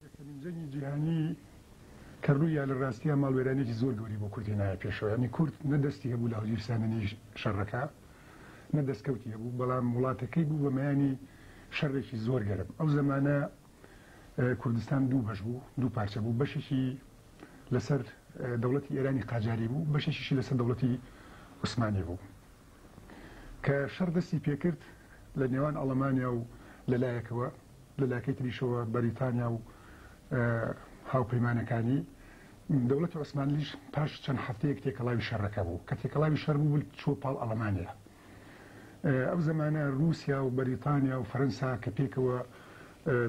یەکەمین جەنگی جیهانی کە ڕوویا لە ڕاستیا ماڵوێرانێکی زۆر گەوری بۆ کوردی نایە پێشەوە یانی کورد نە دەستی هەبوو لە هەڵگیرساندنی شەڕەکە نە دەستکەوتی هەبوو بەڵام وڵاتەکەی بوو بە مەیانی شەڕێکی زۆر گەرم ئەو زمانە کوردستان دوو بەش بوو دوو پارچە بوو بەشێکی لەسەر دەوڵەتی ئێرانی قاجاری بوو بەشێکیشی لەسەر دەوڵەتی عوسمانی بوو کە شەڕ دەستی پێکرد لە نێوان ئەڵەمانیا و لە لایەکەوە لە لایەکەی تریشەوە بەریتانیا و هاوپەیمانەکانی دەوڵەتی عوسمانلیش پاش چەند هەفتەیەک تێکەڵاوی شەڕەکە بوو کە تێکەڵاوی شەر بوو چوە پاڵ ئەڵەمانیا ئەو زمانە رووسیا و بەریتانیا و فەرەنسا کە پێکەوە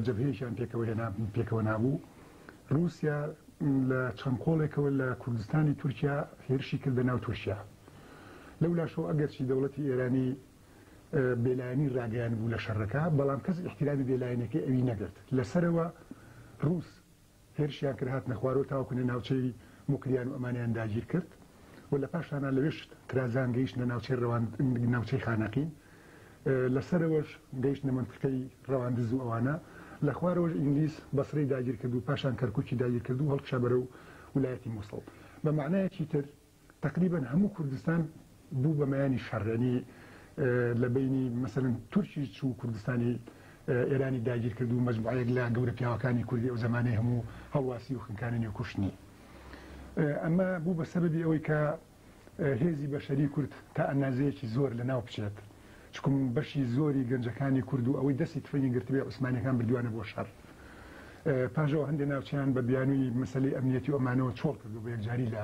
جەبهەیەکیان پێکەوە هێنا پێکەوە نابوو رووسیا لە چەند قۆڵێکەوە لە کوردستانی تورکیا هێرشی کردە ناو تورکیا لەولاشەوە ئەگەرچی دەوڵەتی ئێرانی بێلایەنی راگەیانبوو لە شەرەکە، بەڵام کەس ئیحتیرامی بێلایەنیەکەی ئەوی نەگرت. لە سەرەوە رووس هێرشیان کرد هاتنە خوارەوە تاوەکونە ناوچەی موکریان و ئەمانیان داگیرکرد و لە پاشانا لەوێش ترازان گەیشتنە ناوچەی رەوان ناوچەی خانەقین لە سەرەوەش گەیشتنە مەنتقەی رەواندز و ئەوانە لە خوارەوەش ئینگلیز بەسرەی داگیرکرد و پاشان کەرکوکی داگیرکرد و هەڵکشا بەرەو ولایەتی موسڵ بە مەعنایەکی تر تەقریبەن هەموو کوردستان بوو بە مەیانی شەڕ یانی لە بەینی مەسەلەن تورکی چوو کوردستانی ئێرانی داگیر کرد و مەجموعەیەک لە گەورە پیاوەکانی کوردی ئەو زەمانەی هەموو هەڵواسی و خنکانێنی و کوشتنی ئەمە بوو بە سەبەبی ئەوەی کە هێزی بەشەری کورد تا ئەنازەیەکی زۆر لە ناو بچێت چکم بەشی زۆری گەنجەکانی کورد و ئەوەی دەستی تفەنگی گرتبێ عوسمانەکان بردوانە بۆ شەر پاژەوە هەندێ ناوچیان بە بیانووی مەسەلی ئەمنیەتی ئۆمانەوە چۆڵ کردو بە یەکجاری لە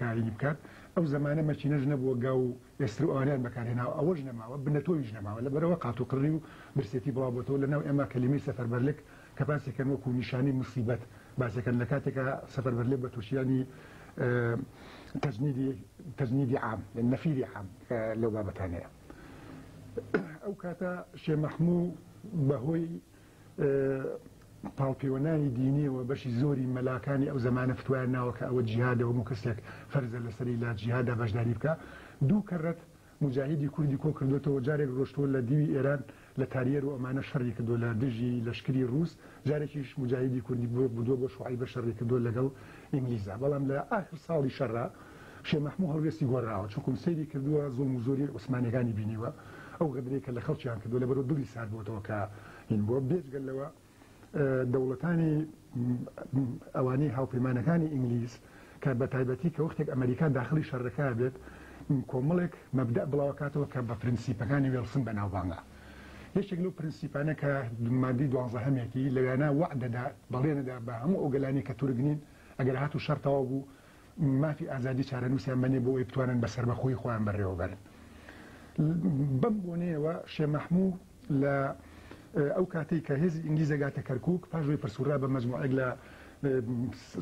کاری بکات ئەو زەمانە مەکینەش نەبووە گاو و ئێستر و ئەوانەیان بەکارهێناوە ئەوەش نەماوە بنەتۆویش نەماوە لەبەرئەوە قاتوقڕی و برسێتی بڵاوبۆتەوە لەناو ئێمە کەلیمەی سەفەربەرلک کەباسیەکەن وەکو نیشانەی موسیبەت باسیەکەن لەکاتێکا سەفەربەرلک بەتورکییانی تەجنیدی تەجنیدی عام یەعنی نەفیری عام کە لەو بابەتانەیە ئەو کاتە شێ مەحموو بەهۆی پاڵپێوەنانی دینیەوە بەشی زۆری مەلاکانی ئەو زمانە فتوایان ناوە کە ئەوە جیهادە هەموو کەسێک فەرزە لەسەری لە جیهادا بەشداری بکە دوو کەڕەت مجاهیدی کوردی کۆ کردوێتەوە جارێک ڕۆشتوە لە دیوی ئێران لە تاریەر و ئەمانە شەڕی کردو لە دژی لەشکری ڕوس جارێکیش مجاهیدی کوردی بووە بردووە بۆ شوعی بە شەڕی کردووە لەگەڵ ئینگلیزە بەڵام لە ئاخر ساڵی شەڕا شێ مەحموو هەڵوێستی گۆڕاوە چونکوم سەیری کردووە زوڵم و زۆریەی عوسمانیەکانی بینیوە ئەو غەدرەی کە لە خەڵکیان کردووە لە بەرو دڵی سارد بۆتەوە کە هین بووە بێجگە لەوە دەوڵەتانی ئەوانەی هاوپەیمانەکانی ئینگلیز کە بە تایبەتی کە وەختێک ئەمریکا داخلی شەڕەکە بێت کۆمەڵێک مەبدە بڵاوکاتەوە کە بە پرنسیپەکانی وێڵسن بەناوبانگە. یەکێک لەو پرنسیپانە کە ماددەی دوانزەهەمیەتی لە وێنا وەعد دەدا بەڵێن دەدا بە هەموو ئەو گەلانی کە تورک نین ئەگەر هاتوو شەڕ تەواو بوو مافی ئازادی چارەنووسیان بەنێ بۆ ئەوی بتوانن بە سەربەخۆی خۆیان بەڕێوە بەرن بەم بۆنەیەوە شێ مەحموو لە ئەو کاتەی کە هێزی ئینگلیز دەگاتە کەرکک پاژۆی پرسوورا بە مەجموعێک لە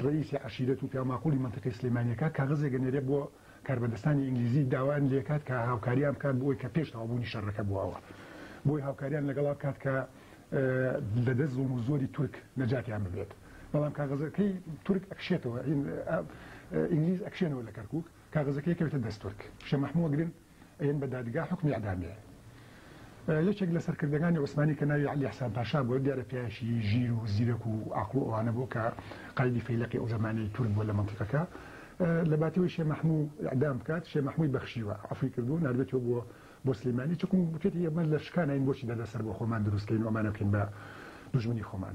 ڕئیسی عشیرەت و پیاماقلی منتیقی سلێمانیەکە کاغزێک گەنێرێ بۆ کاربەدەستانی ئینگلیزی داوایان لێکات کە هاوکاریان بکات بۆ ئەوەی کە پێش تەواوبوونی شەڕەکە بۆ ئەوە بۆی هاوکاریان لەگەڵا بکات کە لە دەست زوڵم و زۆری تورک نەجاتیان ببێت بەڵام کاغەزەکەی تورک ئەکشێتەوە ئینگلیز ئەکشێنەوە لە کەرکک کاغەزەکەی کەوێتە دەست تورک شە مەحمووە گرن ئەیەن بە دادگا حوکمی ئیعدامێ. یەکێک لە سەرکردەکانی عوسمانی کە ناوی عەلی ئیحسان پاشا بووە، دیارە پیاوێکی ژیر و زیرەک و عەقڵ و ئەوانە بوو کە قایدی فەیلەقی ئەو زەمانەی تورک بووە لە مەنتیقەکە. لە باتەوەی شێ مەحموو ئیعدام بکات، شێ مەحمووی بەخشیوە، عەفوی کردووە، ناردوویەتەوە بۆ بۆ سلیمانی، چونکم وتویەتی ئێمە لە شکاناین بۆچی دەردەسەر بۆ خۆمان دروست کەین و ئەمانە بکەین بە دوژمنی خۆمان.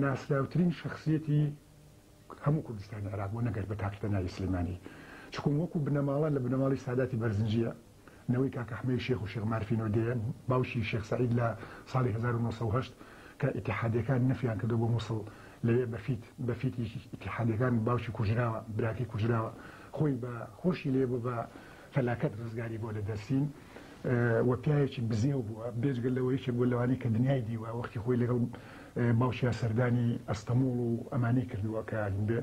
ناسراوترین شەخسیەتی هەموو کوردستانی عێراق بۆ نەگەرد بە تاکی تەناوی سلیمانی چکون وەکو بنەماڵە لە بنەماڵی ساداتی بەرزنجیە نەوەی کاک احمەی شێخ و شێخ مارفینۆ دێ باوکی شێخ سعید لە ساڵی 1970 کە اتحادیەکان نەفیان کردو بۆ موسڵ لەوێ بەفیت بەفیتی اتحادیەکان باوکی کوژراوە براکەی کوژراوە خۆی بە خۆشی لێ بۆ بە فەلاکەت ڕزگاری بووە لە دەرسیم و پیاوێکی بزێو بووە، بێجگە لەوە یەکێک بووە لەوانەی کە دنیای دیوە، وەختی خۆی لەگەڵ باوکیا سەردانی ئەستەموڵ و ئەمانەی کردووە کە بێ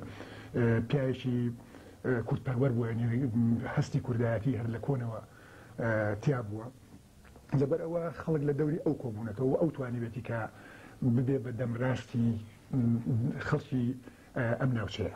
پیاوێکی کورد پەروەر بووە یانی هەستی کوردایەتی هەر لە کۆنەوە تیا بووە. لەبەر ئەوە خەڵک لە دەوری ئەو کۆبوونەتەوە و ئەو توانیوێتی کە ببێ بە دەمراستی خەڵکی ئەم ناوچەیە.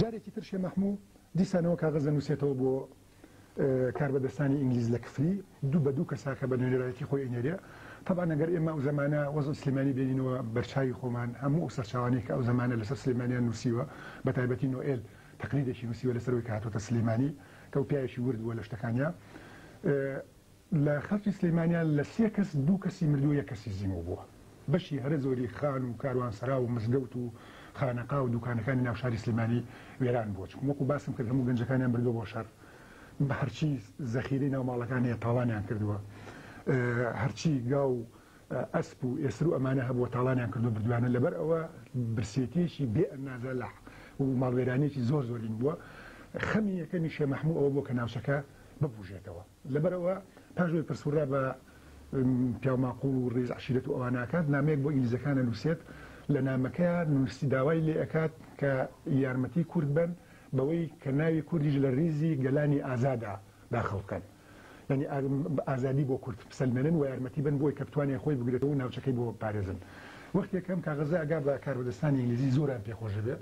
جارێکی تر شێ مەحموو دیسانەوە کاغەز دەنووسێتەوە بۆ کاربەدەستانی ئینگلیز لە کفری، دوو بە دوو کەساکە بە نوێنەرایەتی خۆی ئەینێرێ. تەبعەن ئەگەر ئێمە ئەو زەمانە وەزعی سلێمانی بێنینەوە بەرچاوی خۆمان، هەموو ئەو سەرچاوانەی کە ئەو زەمانە لەسەر سلێمانیان نووسیوە، بە تایبەتی نۆئێل تەقریرێکی نووسیوە لەسەر ئەوەی کە هاتۆتە سلێمانی، کە ئەو پیاوێکی ورد بووە لە شتەکانیا. لە خەڵکی سلیمانیا لە سێ کەس دوو کەسی مردووە یەک کەسی زیمو بووە. بەشی هەرە زۆری خان و کاروانسەرا و مزگەوت و خانەقا و دوکانەکانی ناو شاری سلیمانی وێران بووە چونکە وەکو باسم کرد هەموو گەنجەکانیان بردووە بۆ شەر بە هەرچی زەخیرەی ناو ماڵەکان هەیە تاڵانیان کردووە هەرچی گا و ئەسپ و ئێسر و ئەمانە هەبووە تاڵانیان کردووە بردویانە لەبەر ئەوە برسێتیەکی بێ ئەندازە لە و ماڵوێرانیەکی زۆر زۆرین بووە خەمی یەکەمی شێ مەحموو ئەوە بووە کە ناوچەکە ببوژێتەوە. لەبەر ئەوە پاش ئەوەی پرسوڕا بە پیاو ماقوڵ و ڕیز عەشیرەت و ئەوانە ئەکات، نامەیەک بۆ ئینگلیزەکان ئەنووسێت، لە نامەکەیا نووسی داوای لێ ئەکات کە یارمەتی کورد بەن بەوەی کە ناوی کوردیش لە ڕیزی گەلانی ئازادا داخڵ بکەن، یانی ئازادی بۆ کورد بسەلمێنن و یارمەتی بەن بۆی کە بتوانێ خۆی بگرێتەوە و ناوچەکەی بۆ بپارێزن. وەختێک ئەم کاغەزە ئەگا بە کاربەدەستانی ئینگلیزی زۆران پێ خۆش ئەبێ،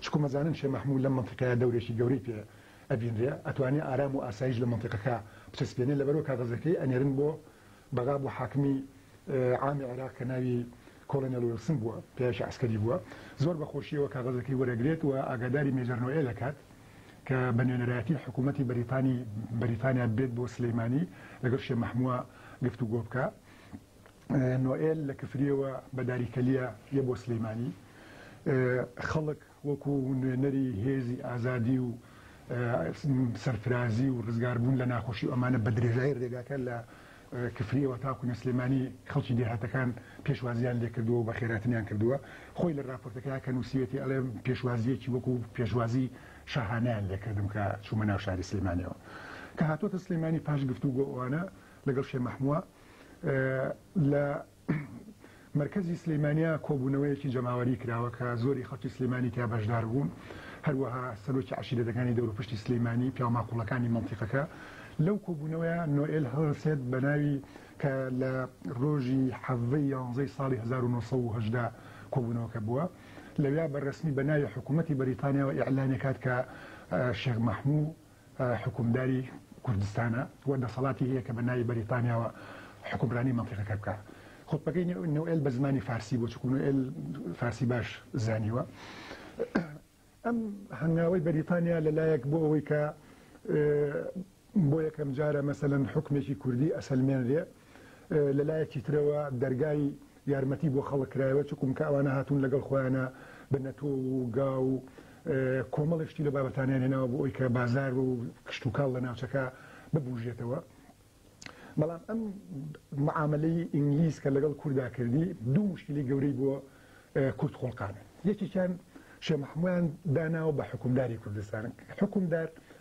چونکوم ئەزانن شێ مەحموو لەم مەنتیقەیا دەورێکی گەورەی پێ ئەبینرێ ئەتوانێ ئارام و ئاسایش لە مەنتیقەکە بچەسپێنێ لەبەرئەوە کاغەزەکەی ئەنێرن بۆ بەغا بۆ حاکمی عامی عێراق کە ناوی کۆڵنێڵ ویڵسن بووە پیاوێکی عەسکەری بووە زۆر بە خۆشیەوە کاغەزەکەی وەرەگرێت و ئاگاداری مێجەر نۆئێل ئەکات کە بە نوێنەرایەتی حکوومەتی بەریتانی بەریتانیا بێت بۆ سلیمانی لەگەڵ شێ مەحمووە گفتوگۆ بکا. نۆئێل لە کفرییەوە بە داریکەلیە یە بۆ سلیمانی خەڵک وەکو نوێنەری هێزی ئازادی و سەرفرازی و ڕزگاربوون لە ناخۆشی و ئەمانە بە درێژایی ڕێگاکە لە کفریەوە تاکو نەسلێمانی خەڵکی دێهاتەکان پێشوازیان لێکردووە و بە خێراتنیان کردووە خۆی لە راپۆرتەکە کە نووسیەتی ئەڵێ پێشوازیەکی وەکو پێشوازی شاهانیان لێکردم کە چوومە ناو شاری سلێمانەوە کە هاتۆتە سلێمانی پاش گفتو گۆوانە لەگەڵ شێ مەحمووە لە مرکزی سلیمانیا کۆبوونەوەیەکی جەماوەری کراوە کە زۆری خەڵکی سلیمانی تیا بەشدار بوون هەروەها سەرۆکی عشیرەتەکانی دەوروپشتی سلیمانی پیاماقوڵەکانی مەڵتیقەکە لەو کۆبوونەوەیە نۆئل هەڵسێت بە ناوی کە لە ڕۆژی حەڤەی یانزەی ساڵی 1970 کۆبوونەوەکە بووە لەویا بە ڕسمی بە ناوی حکوومەتتی بەریتانیاەوە ئیعلانێکات کە شێخ مەحموو حوکمداری کوردستانە و دەسەڵاتی هەیە کە بە ناوی بەریتانیاوە حوکمرانی مەنتیقەکە بکا. خوتبەکەی نوئێل بە زمانی فارسی بوو چونکو نوئێل فارسی باش زانیوە. ئەم هەنگاوەی بەریتانیا لە لایەک بۆ ئەوەی کە بۆ یەکەم جارە مەسەلەن حوکمێکی کوردی ئەسەلمێنرێ، لە لایەکی ترەوە دەرگای یارمەتی بۆ خەڵک کرایەوە چکونکە ئەوانە هاتوون لەگەڵ خۆیانە بە نەتۆ و گا و کۆمەڵێک شتی لە بابەتانیان هێناوە بۆ ئەوی کە بازار و کشتوکاڵ لە ناوچەکە ببوژێتەوە بەڵام ئەم معاملەی ئینگلیز کە لەگەڵ کوردا کردی دوو مشکلی گەورەی بۆ کورد خۆڵقانە یەکێکیان شێ محمویان داناوە بە حکومداری کوردستان حکومدار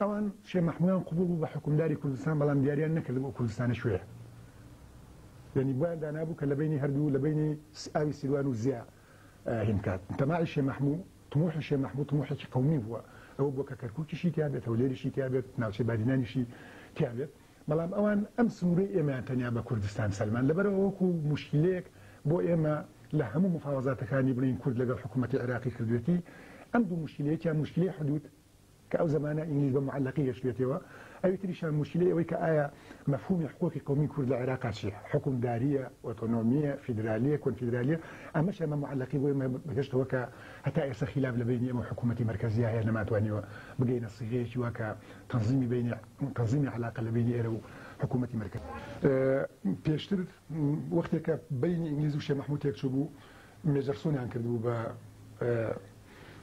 ئەوان شێ مەحموویان قبوڵ بوو بە حوکمداری کوردستان بەڵام دیاریان نەکرد بۆ کوردستانە کوێیە یەنی بۆیان دانابوو کە لە بەینی هەردوو لە بەینی ئاوی سیروان و زیا هینکات تەماعی شێ مەحموو تموحی شێ مەحموو تموحێکی قەومی بووە ئەوە بۆ کە کەرکوکیشی تیابێت هەولێریشی تیابێت ناوچەی بادینانیشی تیابێت بەڵام ئەوان ئەم سنوورەی ئێمەیان تەنیا بە کوردستان سەلمان لەبەرەوە وەکو موشکیلەیەک بۆ ئێمە لە هەموو مفاوەزاتەکانی بڵێین کورد لەگەڵ حکوومەتی عێراقی کردوێتی ئەم دوو موشکیلەیەکیان موشکیلەی حدوود کە ئەو زمانە ئینگلیز بە معلقی دەشلێتەوە، ئەوی تریشیان موشکیلەی ئەوەی کە ئایا مەفهومی حقوقی قەومی کورد لە عێراقا چیە؟ حکومدارییە؟ ئۆتۆنۆمییە؟ فیدرالییە؟ کۆنفیدرالییە؟ ئەمەشیان بە معلقی بۆ ئێمە بەگەشت ئەوە کە هەتا ئێستا خیلاف لە بەینی ئێمە و حکوومەتی مەرکەزییا هەیە نەمانتوانیوە بگەینە سیغەیەکی وا کە تەنزیمی بەینی تەنزیمی عەلاقە لە بەینی ئێرە و حکوومەتی مەرکەزی پێشتر وەختێک کە بەینی ئینگلیز و شێخ مەحموود تێکچووبوو مێجەرسۆنیان کردبوو بە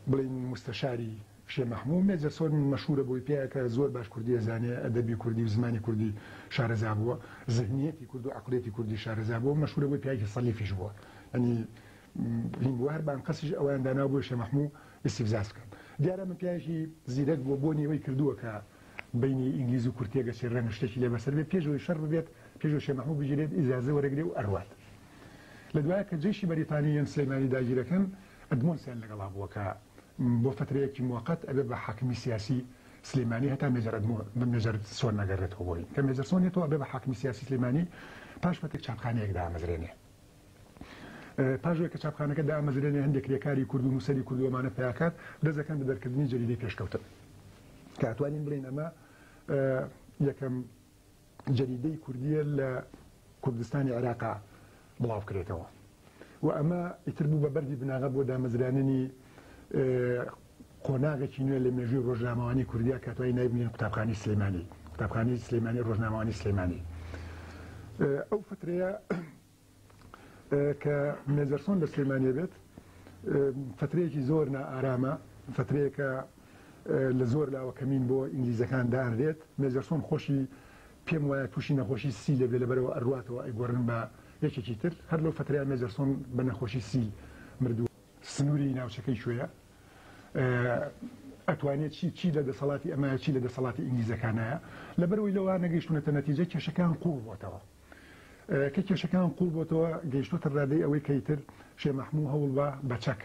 بڵێین موستەشاری شێ مەحموو مێجە سۆن مەشهوورە بۆی پێ کە زۆر باش کوردی ئەزانێ ئەدەبی کوردی و زمانی کوردی شارەزا بووە زهنیەتی کورد و عەقڵیەتی کوردی شارەزا بووە مەشهوورە بۆی پیاوێکی سەلیفیش بووە یانی هین بووە هەر بە ئەنقەستیش ئەویان داناوە بۆی شێ مەحموو ئیستیفزاز بکەن دیارە ئەمە پیاوێکی زیرەک بووە بۆنی ئەوەی کردووە کە بەینی ئینگلیز و کورد تێگەچێ رەنگە شتێکی لێ بەسەر بێ پێش ئەوەی شەڕ ببێت پێش ئەوەی شێ مەحموو بگیرێت ئیجازە وەرەگرێ و ئەروات لە دوایە کە جەیشی بەریتانی یان سلێمانی داگیر ئەکەن ئەدمۆنسیان لەگەڵا بووە کە بۆ فەترەیەکی موەقەت ئەبێ بە حاکمی سیاسی سلیمانی هەتا مێجەر ئەدمۆ مێجەر سۆن نەگەرێتەوە بۆی کە مێجەر سۆن یەتەوە ئەبێ بە حاکمی سیاسی سلیمانی پاش فەتێک چاپخانەیەک دامەزرێنێ پاش وەی کە چاپخانەکە دامەزرێنێ هەندێک کرێکاری کورد و نووسەری کورد و ئەمانە پیاکات دەزەکەن بە دەرکردنی جەریدەی پێشکەوتن کە ئەتوانین بڵێن ئەمە یەکەم جەریدەی کوردییە لە کوردستانی عێراقا بڵاو بکرێتەوە و ئەمە ئیتر بوو بە بەردی بناغە بۆ دامەزراننی قۆناغێکی نوێ لە مێژووی ڕۆژنامەوانی کوردیا کە توای نایبنین قوتابخانی سلەیمانی قوتابخانی سلەیمانی ڕۆژنامەوانی سلەیمانی ئەو فترەیە کە مێجەرسۆن لە سلێمانیە بێت فەترەیەکی زۆر نائارامە فەترەیەکە لە زۆر لاوە کەمین بۆ ئینگلیزەکان دانرێت مێجەرسۆن خۆشی پێم وایە تووشی نەخۆشی سی لێ بێ لەبەرەوە ئەرواتەوە ئەیگۆڕن بە یەکێکی تر هەر لەو فەتریا مێجەرسۆن بە نەخۆشی سی مردووە سنووری ناوچەکەی کوێیە ئەتوانێت چی چی لە دەسەڵاتی ئەمایە چی لە دەسەڵاتی ئینگلیزەکانایە لەبەرەوەی لەوە نەگەیشتونەتە نەتیجە کێشەکان قوڵ بۆتەوە کە کێشەکەیان قوڵ بۆتەوە گەیشتۆتە رادەی ئەوەی کە ئیتر شێ مەحموو هەوڵ با بە چەک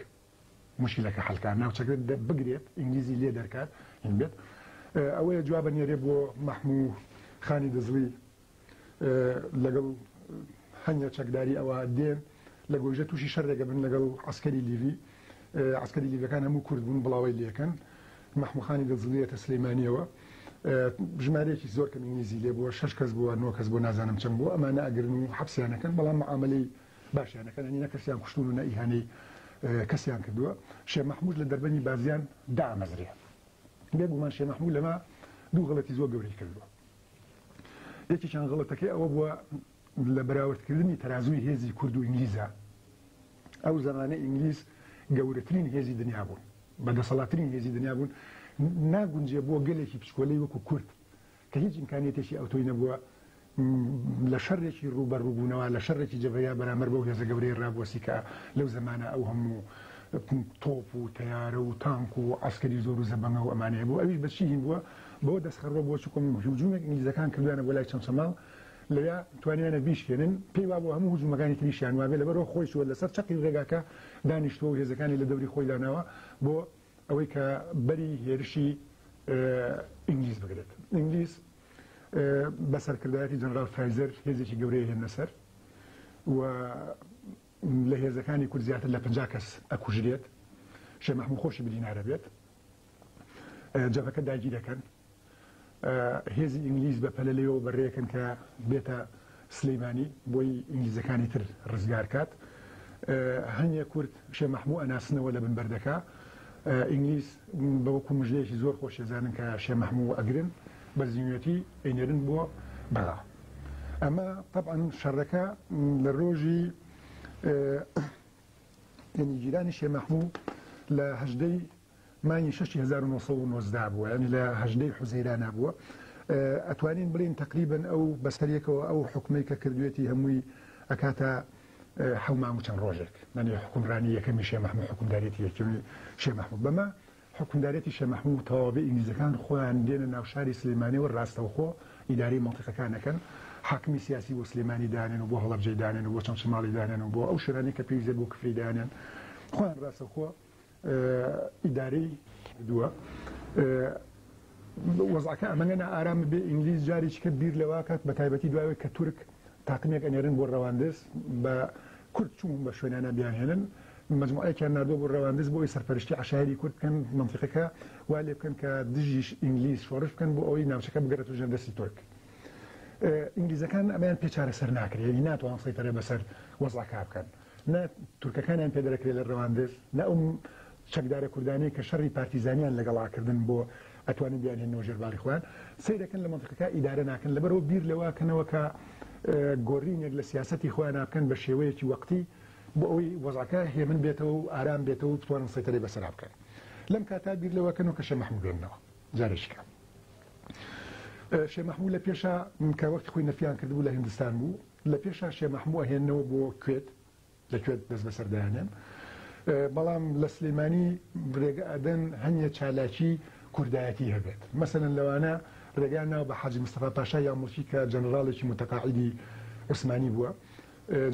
موشکیلەکە حەلکا ناوچەکە بگرێت ئینگلیزی لێ دەرکات هین بێت ئەوەیە جوابە نێرێ بۆ مەحموو خانی دزڵی لەگەڵ هەنگە چەکداری ئەوە دێن لە گۆیژە توشی شەر دەگەبن لەگەڵ عەسکەری لیڤی عەسکەری لیڤەکان هەموو کورد بوون بڵاوەی لێکەن مەحموو خانی دڵزڵی یەتە سلیمانیەوە ژمارەیەکی زۆر کەم ئینگلیزی لێ بووە شەش کەس بووە نۆ کەس بووە نازانم چەند بووە ئەمانە ئەگرن و حەپسیان ئەکەن بەڵام معامەلەی باشیان ئەکەن یانی نە کەسیان کوشتوون و نە ئیهانەی کەسیان کردووە شێ مەحموود لە دەربەنی بازیان دامەزرێ بێ گومان شێ مەحموود لەمە دوو غەڵەتی زۆر گەورەی کردووە یەکێکیان غەڵەتەکەی ئەوە بووە لە بەراوردکردنی تەرازووی هێزی کورد و ئینگلیزا، ئەو زەمانە ئینگلیز گەورەترین هێزی دنیا بوون، بە دەسەڵاتترین هێزی دنیا بوون، ناگونجێ بۆ گەلێکی بچکۆلەی وەکو کورد کە هیچ ئیمکانیەتێکی ئەوتۆی نەبووە لە شەرێکی ڕووبەڕووبوونەوە لە شەرێکی جەبەیا بەرامەر بەو هێزە گەورەی ڕابوەسی کە لەو زەمانە ئەو هەموو تۆپ و تەیارە و تانک و عسکەری زۆر و زەبەنگە و ئەمانەیە بوو ئەویش بەچی هین بووە بۆ دەستخەڕوە بۆ چکم هیوجومێک ئینگلیزەکان کردوانە بۆ لای چەمچەماڵ لەوێ توانیانە بیشکێنن، پێی وابوو هەموو هجوومەکانی تریشیان وابێ، لەبەرئەوە خۆی چووە لەسەر چەقی رێگاکە دانیشتووە و هێزەکانی لە دەوری خۆی داناوە بۆ ئەوەی کە بەری هێرشی ئینگلیز بگرێت. ئینگلیز بە سەرکردایەتی جەنراڵ فرایزەر هێزێکی گەورەی هێنە سەر و لە هێزەکانی کورد زیاتر لە پەنجا کەس ئەکوژرێت، شێخ مەحموو خۆشی بدینارە بێت. جەبهەکە داگیرەکەن. هێزی ئینگلیز بە پەلە لێەوە بەڕێکن کە بێتە سلەیمانی بۆی ئینگلیزەکانی تر ڕزگار کات هەنگە کورد شێ مەحموو ئەناسنەوە لە بنبەردەکە ئینگلیز بەوەکو مژلەیەکی زۆر خۆشێزانن کە شێ مەحموو ئەگرن بە زیوێتی ئەینێرن بۆ بەغا ئەمە طبعاً شەڕەکە لە ڕۆژی ینی گیرانی شێ مەحموو لە هەژدەی مانگی شەشی هەزار و نۆ سەد و نۆزدە بووە یانی لە هەژدەی حوزەیرانا بووە ئەتوانین بڵین تەقریبەن ئەو بەسەریەکەوە ئەو حکومەی کە کردوێتی هەمووی ئەکاتە حەومامو چەند ڕۆژێک نەنی حکومڕانی یەکەمی شێ مححمود حکومدارێتی یەکیونی شێ مححمود بەمە حکومدارێتی شێ مححمود تەواوی ئینگلیزەکان خۆیان دێنە ناو شاری سلێمانی و ڕاستەوخۆ ئیداری مەڵتەکەکانەکەن حاکمی سیاسی بۆ سلێمانی دانێن و بۆ هەڵەبجەی دانێن و بۆ چەمچەماڵی دانێن و بۆ ئەو شوێنانی کە پێویزە بۆ کفری دانێن خۆیان ڕاستەخۆ ئیدارەی کردووە وەزعەکە ئەمەە نائارام بێ ئینگلیز جاریچکە بیر لەواکات بە تایبەتی دوایەوەی کە تورک تاقمێک ئەنێرن بۆ ڕەواندز بە کورد چوون بە شوێنانە بیانهێنن مجموعەیەکیان نردۆ بۆ ڕەواندز بۆی سەرپەرشتی عشاعری کورد بکەن منطقەکە وا لێ بکەن کە دژیش ئینگلیز شۆڕش بکەن بۆ ئەوەی ناوچەکە بگەرێت و ژێر دەستی تورک ئینگلیزەکان ئەمیان پێچارە سەر ناکرێت ناتوان سەیتەرە بەسەر وەزعکا بکەن. نە تورکەکانیان پێ دەرەکرێ لە رواندز نە ئەو چەکدارە کوردانەی کە شەڕی پارتیزانیان لەگەڵا کردن بۆ ئەتوانن بیانهێنەوە ژێر باری خۆیان سەیرەکەن لە مەنتقەکە ئیدارە ناکەن لەبەرەوە بیر لەوە کەنەوە کە گۆرینێک لە سیاستی خۆیان بکەن بە شێوەیەکی وەقتی بۆ ئەوی وەزعەکە هێمن بێتەوە و ئارام بێتەوە و بتوانن سەیتەرەی بەسەرا بکەن لەم کاتا بیر لەوە کەن و کەشە مەحموو بێنەوە جارێکیکە شێ مەحموو لە پێشا کە وەختی خۆی نەفیان کردبوو لە هندستان بوو لە پێشا شێ مەحموو ئەهێننەوە بۆ کوێت لە کوێت دەست بەسەر دەیانێن بەڵام لە سلیمانی رێگە ئەدەن هەنیە چالاکی کوردایەتی هەبێت مەسەن لەوانە رێگا ناو بە حەجی مستەفا پاشا یا موڵکی کە جەنراڵێکی متەقاعدی عوسمانی بووە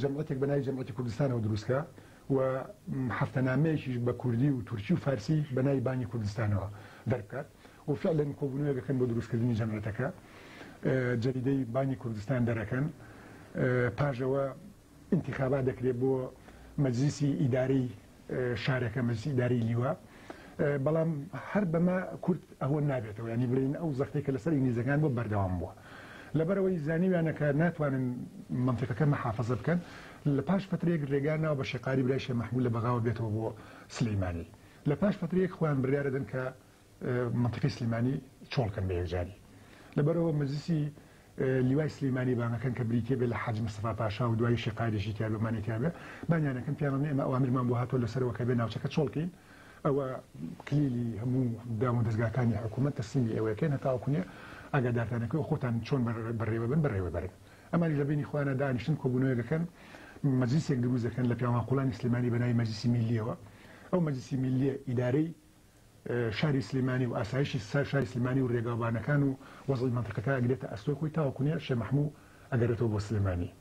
جەمعەتێک بەنای جەمعەتی کوردستانەوە دروستکە و هەفتەنامەیەکیش بە کوردی و تورکی و فارسی بەنای بانی کوردستانەوە دەربکات و فعلەن کۆبوونەوەیەک دەکەن بۆ دروستکردنی جەمعیەتەکە جەریدەی بانی کوردستان دەرەکەن پاش ئەوە ئینتیخابات دەکرێت بۆ مەجلیسی ئیدارەی شارەکە مەجلیسی ئیدارەی لیوا بەڵام هەر بەمە کورد ئەوە نابێتەوە ینی بڵین ئەو زەختێک کە لەسەر ئینگلیزەکان بۆ بەردەوام بووە لەبەرەوەی زانیویانەکە ناتوانن منتیقەکە مەحافظە بکەن لە پاش فترێک ڕێگا ناو بە شێقاری برای شێ مححمول لە بەغاوە بێتەوە بۆ سلەیمانی لە پاش فترێک خۆیان بریاە دەن کە مەنتیقی سلیمانی چۆڵ کەن بە یەکجاری لەبەرەوە مەجلیسی لیوای سلیمانی بانەکەن کە بریتیە بێ لە حاج مستەفا پاشا و دوایی شقایدێکی تیا بەمانی تیا بێ بانیانەکەن پیانڵێ ئێمە ئەوامرمان بۆ هاتۆ لەسەرەوە کە بێ ناوچەکە چۆڵکەین ئەوە کلیلی هەموو دام و دەستگاکانی حکوومەت تەسلیمی ئەوەکەن هەتاوکوێ ئاگادارتانەکەی خۆتان چۆن بەڕێوە بن بەڕێوە بەرن ئەمانی لە بینی خۆیانە دانیشتن کۆبوونەوەگەکەن مەجلیسێک دروست دەکەن لە پیاوان قوڵانی سلیمانی بەناوی مەجلیسی میلیەوە ئەو مەجلیسی میلیە ئیدارەی شاری سلیمانی و ئاسایشی شاری سلیمانی و رێگاوبانەکان و وەزعی مەنتیقەکە ئەگرێتە ئەستۆی خۆی تاوەکو نێ شێ مەحمو ئەگەرێتەوە بۆ سلێمانی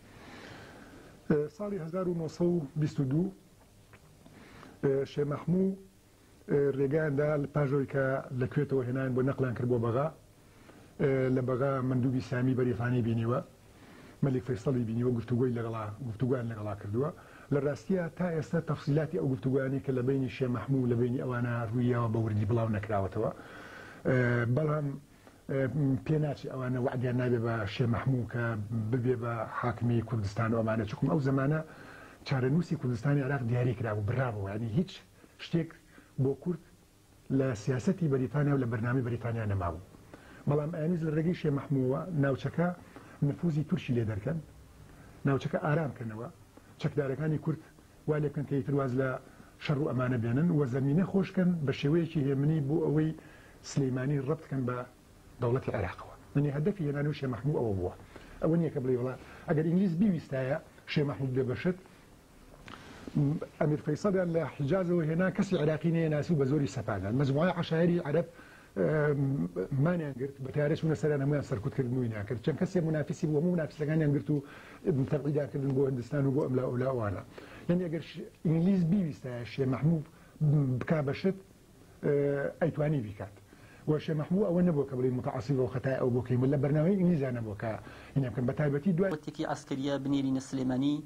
ساڵی هەزار و نۆ سەد و بیست و دوو شێ مەحمو رێگایان دا پاش ئەوەی کە لە کوێتەوە هێنایان بۆ نەقلیان کرد بۆ بەغا. لە بەغا مەندوبی سامی بەریتانی بینیوە مەلیک فەیسەڵی بینیوە گفتوگۆی لەگەڵا گفتوگۆیان لەگەڵا کردووە لە راستیا تا ئێستا تەفسیلاتی ئەو گفتوگۆیانەی کە لە بەینی شێ مەحموو لە بەینی ئەوانە روویەوە بە وردی بڵاو نەکراوەتەوە بەڵام پێ ناچێ ئەوانە وەعدیان نابێ بە شێ مەحموو کە ببێ بە حاکمی کوردستان و ئەمانە چکم ئەو زمانە چارەنووسی کوردستانی عراق دیاری کرابوو برابوو ینی هیچ شتێک بۆ کورد لە سیاسەتی بەریتانیا و لە بەرنامەی بەریتانیا نەمابوو، بەڵام ئەیانویست لە رێگەی شێ مەحمووەوە ناوچەکە نفوزی تورکی لێ دەرکەن، ناوچەکە ئارام کەنەوە، چەکدارەکانی کورد وا لێ بکەن کە ئیتر واز لە شەڕ و ئەمانە بێنن و زەمینە خۆش کەن بە شێوەیەکی هێمنی بۆ ئەوەی سلیمانی رەبت کەن بە دەوڵەتی عێراقەوە. یەنی هەدەفی هێنانەوەی شێ مەحموو ئەوە بووە. ئەوە نییە کە بڵێی وەڵا ئەگەر ئینگلیز بیویستایە شێ مەحموود بێ بە شت، ئەمیر فەیسەڵیان لە حیجازەوە هێنا کەسی عێراقی نەیەناسی و بە زۆری سەپاندان مەجموعەی عەشایری عەرەب مانیان گرت بە تارە چوونە سەران هەمویان سەرکوت کرد مووی ناکرد چەند کەسێ منافسی بوو هەموو نافسەکانیان گرت و تەبعیداکردن بۆ هندستان و بۆ ئەملا ئەولاوانە یعنی ئەگەر ئینگلیز بیویستە شێ محموب بکا بەشت ئەیتوانی بیکات وشێ محموو ئەوە نەبوو کە بڵی متعاسی بۆ خەتای ئەو بۆکەی لە بەرنامەی ئینگلیزانە بۆکە هینەکەم بە تایبەتی دوای وتێکی عسکەریە بنێرینە سلێمانی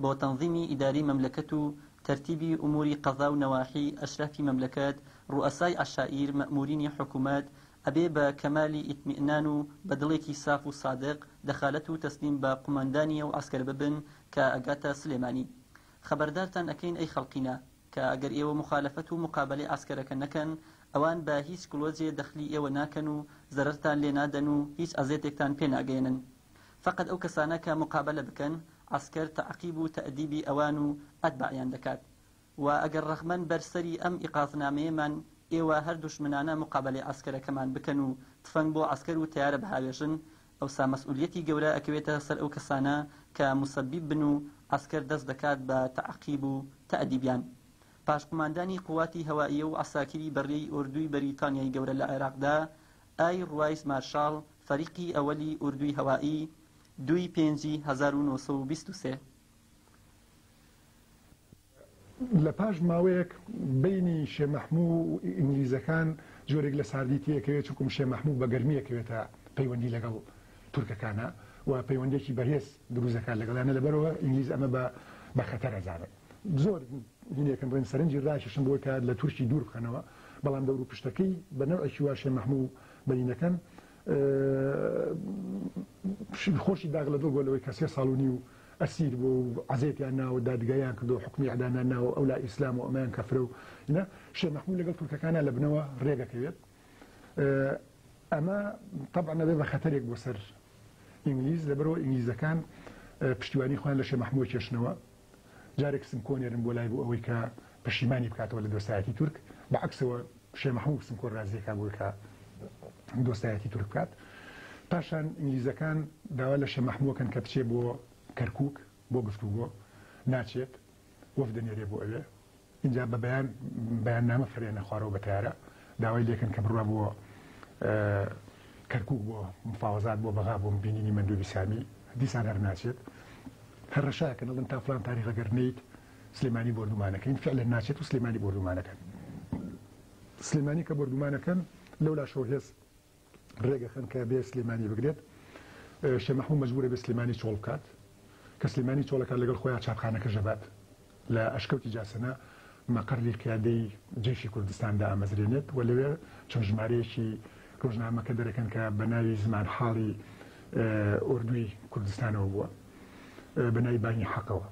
بۆ تەنزیمی ئیداری مەملەکەت و تەرتیبی ئوموری قەزا و نەواحی، ئەشرافی مەملەکەت، ڕوئەسای عەشائیر، مەئمورینی حکومەت، ئەبێ بە کەمالی ئیتمیئنان و بە دڵێکی ساف و سادق دەخالەت و تەسلیم بە قوماندانی ئەو عەسکەرە ببن کە ئەگاتە سلێمانی. خەبەردارتان ئەکەین ئەی خەڵقینە، کە ئەگەر ئێوە موخالەفەت و موقابەلەی عەسکەرەکە نەکەن، ئەوان بە هیچ گڵۆجێ دەخلی ئێوە ناکەن و زەرەرتان لێ نادەن و هیچ ئەزێتێکتان پێ ناگەیەنن. فەقەت ئەو کەسانە کە موقابەلە بکەن عەسکەر تەعقیب و تەئدیبی ئەوان و ئەتباعیان دەکات و ئەگەر ڕەخمەن بەر سەری ئەم ئیقازنامەیەمان ئێوە هەر دوژمنانە موقابەلەی عەسکەرەکەمان بکەن و تفەنگ بۆ عەسکەر و تەیارە بهاوێژن ئەوسا مەسئولیەتی گەورە ئەکەوێتە سەر ئەو کەسانە کە موسەبیب بن و عەسکەر دەست دەکات بە تەعقیب و تەئدیبیان پاش قوماندانی قوواتی هەوائیە و عەساکری بەڕێی ئۆردووی بەریتانیای گەورە لە عێراقدا ئایر وایس مارشاڵ فەریقی ئەوەلی ئوردوی هەوایی دوو ی پێنجی هەزار و نۆ سەد و بیست و سێ. لە پاش ماوەیەک بەینی شێ مەحموو و ئینگلیزەکان جۆرێک لە ساردی تێکەوێت چونکوم شێ مەحموو بە گەرمی ئەکەوێتە پەیوەندی لەگەڵ تورکەکانا و پەیوەندیەکی بەهێز دروست دەکات لەگەڵیانا لەبەرئەوە ئینگلیز ئەمە بە بە خەتەر ئەزانن. زۆر دینێکن بڵێن سەرنجی راکێشن بۆی کە لە تورکی دوور بخەنەوە بەڵام دەور و پشتەکەی بە نەوعێکی وا شێ مەحموو و بەینەکەن خۆشی داغ لە دڵ بۆ لەوەی کە سێ ساڵ و نیو ئەسیر بۆ و عەزێتیان ناوە دادگایان کردو حکومی ئیعدامیان ناوە ئەو لا ئیسلام و ئەمەیان کەفرە و ئینە شێ مەحموو لەگەڵ تورکەکانە لە بنەوە رێگەکەوێت ئەمە تەبع نەبێ بە خەتەرێک بۆ سەر ئینگلیز لەبەرەوە ئینگلیزەکان پشتیوانی خۆیان لە شێ مەحمووە کێشنەوە جارێک سمکۆ نێرم بۆ لای بۆ ئەوەی کە پەشیمانی بکاتەوە لە دۆستایەتی تورک، بە عەکسەوە شێ مەحموو سمکۆ رازی ئەکا بۆی کە دۆستایەتی تورک بکات. پاشان ئینگلیزەکان داوا لە شێ مەحموو ئەکەن کە بچێ بۆ کەرکووک بۆ گفتوگۆ، ناچێت، وەفد دەنێرێ بۆ ئەوێ، ئینجا بە بەیان بەیاننامە فەرێنە خوارەوە بە تەیارە داوای لێکەن کە بڕوا بۆ کەرکک بۆ مفاوەزات بۆ بەغا بۆ بینینی مندوبی سامی دیسان هەر ناچێت هەر ڕشایەکە دەڵن تا فلان تاریخ گەر نیت سلێمانی بردومانەکەین فعلە ناچێت و سلێمانی بردومانەکەن سلێمانی کە بردومانەکەن لەو لاشەوە هێز رێگەخەن کە بێ سلێمانی بگرێت شێ مەحموو مەجبورە بێ سلێمانی چۆڵ بکات کە سلێمانی چۆڵەکات لەگەڵ خۆیان چاپخانەکەش ئەبات لە ئەشکەوتی جاسەنە مەقەری قیادەی جەیشی کوردستان دامەزرێنێت و لەوێ چەند ژمارەیەکی رۆژنامەکە دەرەکەن کە بە ناوی زمان حاڵی ئۆردوی کوردستانەوە بووە بە ناوی بانی حەقەوە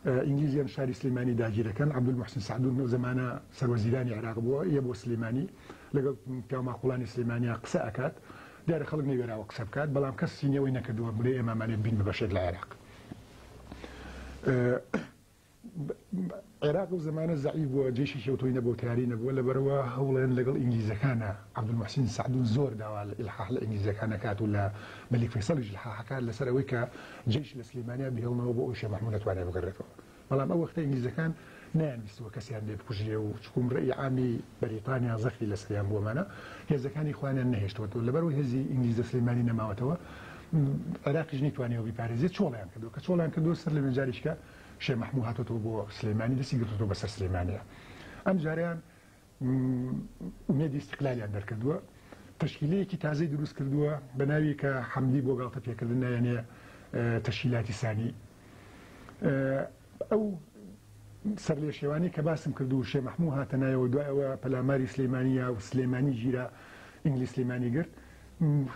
ئینگلیزیان شاری سلێمانی داگیرەکەن عبدول محسن سعدون نەو زمانە سەروەزیرانی عراق بووە یە بۆ سلێمانی لەگەڵ پیاو ماقوڵانی سلیمانیا قسە ئەکات دیارە خەڵک نەیوێراوە قسە بکات بەڵام کەس سینی ئەوەی نەکردووە بڵێ ئێمە ئەمانێت بین بە بەشێک لە عێراق عێراق و زمانە زەعی بووە جێشی شێوتۆی نەبوو تیاری نەبووە لەبەرەوە هەوڵێن لەگەڵ ئینگلیزەکانە عبدمحسین سعدون زۆر داوا لە ئلحاح لە ئینگلیزەکانەکات و لە مەلیک فیصلیش لحاحەکات لەسەر ئەوەی کە جێش لە سلیمانیا بهێڵنەوە بۆ ئەوشێ محمود نەتوانێت بگەڕێتەوە بەڵام ئەو وەختە ئینگلیزەکان نەیانویستووە کەسیان لێ بکوژرێ و چکوم ڕێی عامی بەریتانیا زەختی لەسەریان بووە مانە هێزەکانی خۆیانیان نەهێشتوە تۆ لەبەرو هێزی ئینگلیز لە سلیمانی نەماوەتەوە عێراقیش نەیتوانیەوە بیپارێزێ چۆڵیان کردو کە چۆڵیان کردو سەر لەوێ جاریشکە شێ مەحموو هاتۆتەوە بۆ سلیمانی دەستی گرتۆتەوە بەسەر سلیمانیە ئەم جاریان ئومێدی ئیستیقلالیان دەرکردووە، تەشکیلەیەکی تازەی دروستکردووە بە ناوی کە حەمدی بۆ گاڵتەپێکردن نایەنێ تەشکیلاتی سانی. ئەو سەرلێشێوانەی کە باسم کرد و شێ مەحموو هاتە نایەوە، دوای ئەوە پەلاماری سلیمانی یا سلیمانی گیرا، ئینگلیز سلیمانی گرت،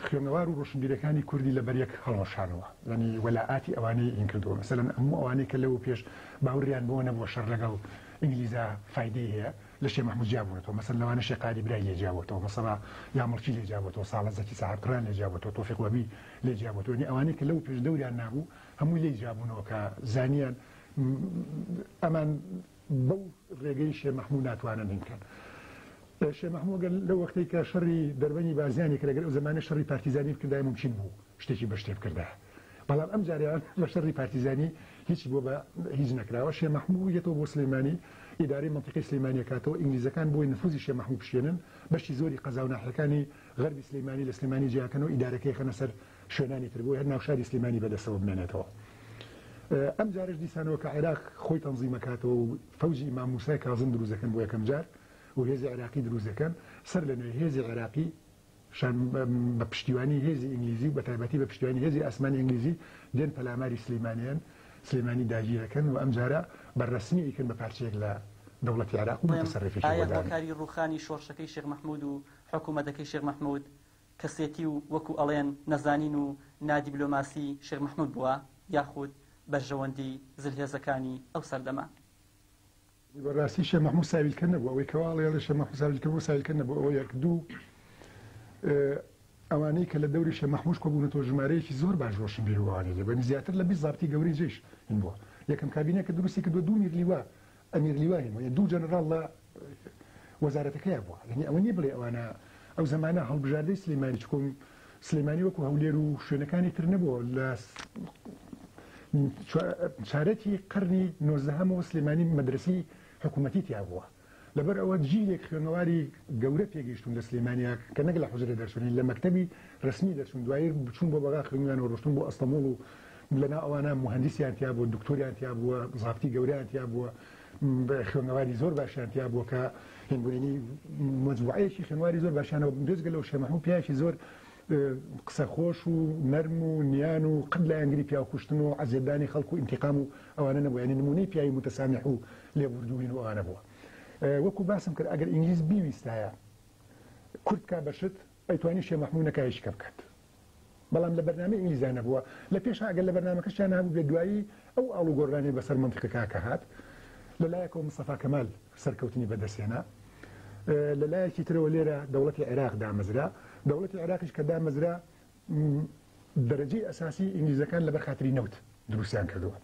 خوێنەوار و ڕۆشنبیرەکانی کوردی لە بەر یەک هەڵوەشانەوە یانی وەلائاتی ئەوانەی ئین کردووە مەسەلەن ئەموو ئەوانەی کە لەوە پێش باوریان بەوە نەبووە شەڕ لەگەڵ ئینگلیزا فایدەی هەیە لە شێ مەحموود جیا بوونەتەوە مەسەلەن لەوانە شێ قادی برای لێ جیا بۆتەوە مەسەڵا یا مڵکی لێ جیا بۆتەوە ساڵە زەکی سەعات قڕان لێ جیا بۆتەوە تۆفیق وەبی لێ جیا بۆتەوە یانی ئەوانەی کە لەوە پێش دەوریان نابوو هەمووی لێی جیا بوونەوە کە زانیان ئەمان بەو رێگەی شێ مەحموو ناتوانن هین بکەن. شێ مەحموو گەل لەو وەختەی کە شەڕی دەربەنی بازیانی کرد، گەر ئەو زەمانە شەڕی پارتیزانی بکردایە مومکین بوو شتێکی بەشتێ بکردایە. بەڵام ئەم جارەیان لە شەڕی پارتیزانی هیچی بۆ بە هیچ نەکراوە. شێ مەحموو یەتەوە بۆ سلیمانی، ئیدارەی مەنتیقەی سلیمانی ئەکاتەوە. ئینگلیزەکان بۆی نفوزی شێ مەحموو بشکێنن، بەشی زۆری قەزاو ناحیەکانی غەربی سلیمانی لە سلیمانی جیاکەن و ئیدارەکەی ئەخەنە سەر شوێنانی تر بۆیە هەر ناوشاری سلیمانی بەدەستەوە بمێنێتەوە ئەم جارش دیسان وەکە عێراق خۆی تەنزیمەکاتەوە و فەوجی ئیمام موسای کازم دروزەکەن بۆ یەکەم جار و هێزی عێراقی دروزەکەن سەر لە نوێ هێزی عێراقی شان بە پشتیوانی هێزی ئینگلیزی و بەتایبەتی بە پشتیوانی هێزی ئاسمانی ئینگلیزی دێن پەلاماری سلیمانیان سلێمانی داگیرەکەن و ئەم جارە بە ڕسمی ئیکن بە پارچەیەک لە دەوڵەتی عراق و متەسەرفیشی ئایا هۆکاری ڕوخانی شۆڕشەکەی شێخ مەحمود و حکومەتەکەی شێخ مەحمود کەسێتی و وەکو ئەڵێن نەزانین و نادیبلۆماسی شێخ مەحمود بووە یاخود بەرژەوەندی زلهێزەکانی ئەو سەردەمە. بەڕاستی شێخ مەحمود ساویلکە نەبوو ئەوەی کەوا ئەڵێ ئەڵێ شێخ مەحمود ساویلکە بوو ساویلکە نەبوو ئەوە یەک دوو ئەوانەی کە لە دەوری شێخ مەحمود کۆبوونەتەوە ژمارەیەکی زۆر باش ڕۆشنبیر و ئەوانەی لێ بوون زیاتر لە بیست زابتی گەورەی جەیش هەبووە یەکەم کابینەکە دروستی کردووە دوو میرلیوا ئەمیر لیوانی بووە، دوو جەنەڕاڵ لە وەزارەتەکەیا بووە، یانی ئەوە نییە بڵێی ئەوانە ئەو زەمانە هەڵبژاردەی سلێمانی، چکۆ سلێمانی وەکو هەولێر و شوێنەکانی تر نەبووە لە چارەکی قەرنی نۆزدەهەمەوە سلێمانی مەدرەسی حکوومەتی تیا بووە. لەبەر ئەوە جیلێک خوێنەواری گەورە پێگەیشتون لە سلێمانیا کە نەک لە حوجرە دەرچوونی لە مەکتەبی ڕسمی دەرچوون دوایی بچوون بۆ بەغا خوێندویانەوە ڕۆشتن بۆ ئەستەموڵ و لەناو ئەوانە موهەندیسیان تیابووە، دوکتۆریان تیابووە، زابتی گەورەیان تیابووە، خوێندنەواری زۆر باشیان تیابووە کە هێندێنی مەجموعەیەکی خوێنەواری زۆر باشانەوە بوون، بێجگە لەوە شێخ مەحموود پیاوێکی زۆر قسەخۆش و نەرم و نیان و قەت لایەنگری پیاوکوشتن و ئەزیەتدانی خەڵک و ئینتیقام و ئەوانە نەبووە، یانی نموونەی پیاوی موتەسامیح و لێبووردووین و ئەوانە بووە. وەکوو باسم کرد ئەگەر ئینگلیز بیویستایە کورد بکا بە شت، ئەی توانی شێ مەحموو نەکای شکە بکات بەڵام لە بەرنامەی ئینگلیزیا نەبووە لە پێشا گەر لە بەرنامەکەشیان نابوو بێ دوایی ئەو ئاڵو گۆڕرانەی بەسەر مەنتیقی کاکە هات لە لایەکەوە مستەفا کەمال سەرکەوتنی بەدەستێنا لە لایەکی ترەوە لێرە دەوڵەتی عێراق دامەزرا دەوڵەتی عێراقیش کە دامەزرا دەرەجەی ئەساسی ئینگلیزەکان لەبەر خاتری نەوت دروستیان کردووە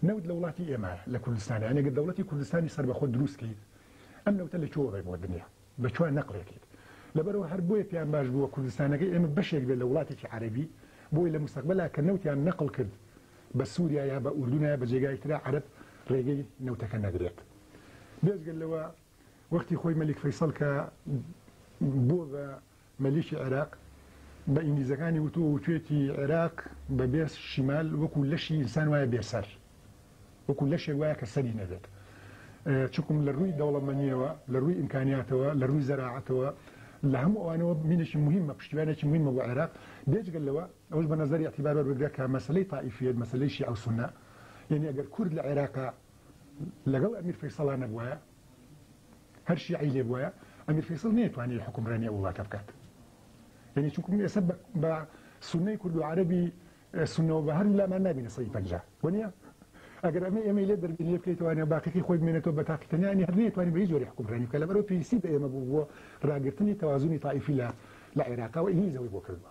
نەوت لە وڵاتی ئێمە لە کوردستانیانێگە دەوڵەتی کوردستانی سەربەخۆ دروستکەیت ئەم نەوتە لە چۆڕێ بۆ دنیا بە چوار نەقڵێتیت لەبەرئەوە هەر بۆیە پێیان باش بووە کوردستانەکەی ئێمە بەشێک بێت لە وڵاتێکی عەرەبی بۆی لە موستەقبەلا کە نەوتیان نەقڵ کرد بە سوریا یا بە ئوردون یا بە جێگای ترا عەرەب ڕێگەی نەوتەکە نەدرێت بێجگە لەوە وەختی خۆی مەلیک فەیسەڵ کە بووە بە مەلیکی عێراق بە ئینگلیزەکانی وتووە و توێتی عێراق بە بێ شیمال وەکوو لەشی ئینسان وایە بێ سەر، وەکوو لەشێک وایە کە سەری نەبێت. چونکم لە ڕووی دەوڵەمەنییەوە، لە ڕووی ئیمکانیاتەوە، لە ڕووی زەراعەتەوە، لە هەموو ئەوانەوە مینێکی موهیمە، پشتیوانێکی موهیمە بۆ عێراق. بێجگە لەوە ئەوەش بە نەزەری ئیعتیبار وەربگرە کە مەسەلەی تائیفییەت، مەسەلەی شیعە و سوننە، یانی ئەگەر کورد لە عێراقا لەگەڵ ئەمیر فەیسەڵا نەبوایە، هەر شیعەی لێ بوایە ئەمیر فەیسەڵ نەیەتوانی حوکمڕانی ئەو وڵاتە بکات یعنی چونکە ئێستا بە سونەی کورد و عەرەبی سنەوە بە هەر لامان نبینە سەی پنج وەنیە ئەگەر ئەمە ئێمە لێ دەربی لێ بکەیتوانە باقیی خۆی بمێنێتەوە بە تاقیتەنیانی هەر نێتوانانی بە هیچ جۆری حکومڕانی کە لەبەرەوە پێویستی بە ئێمە بوو بۆ ڕاگررتنی تەوازنی تایفی لە لە عێراقەوە ئینگلیزەوەی بۆ کردوە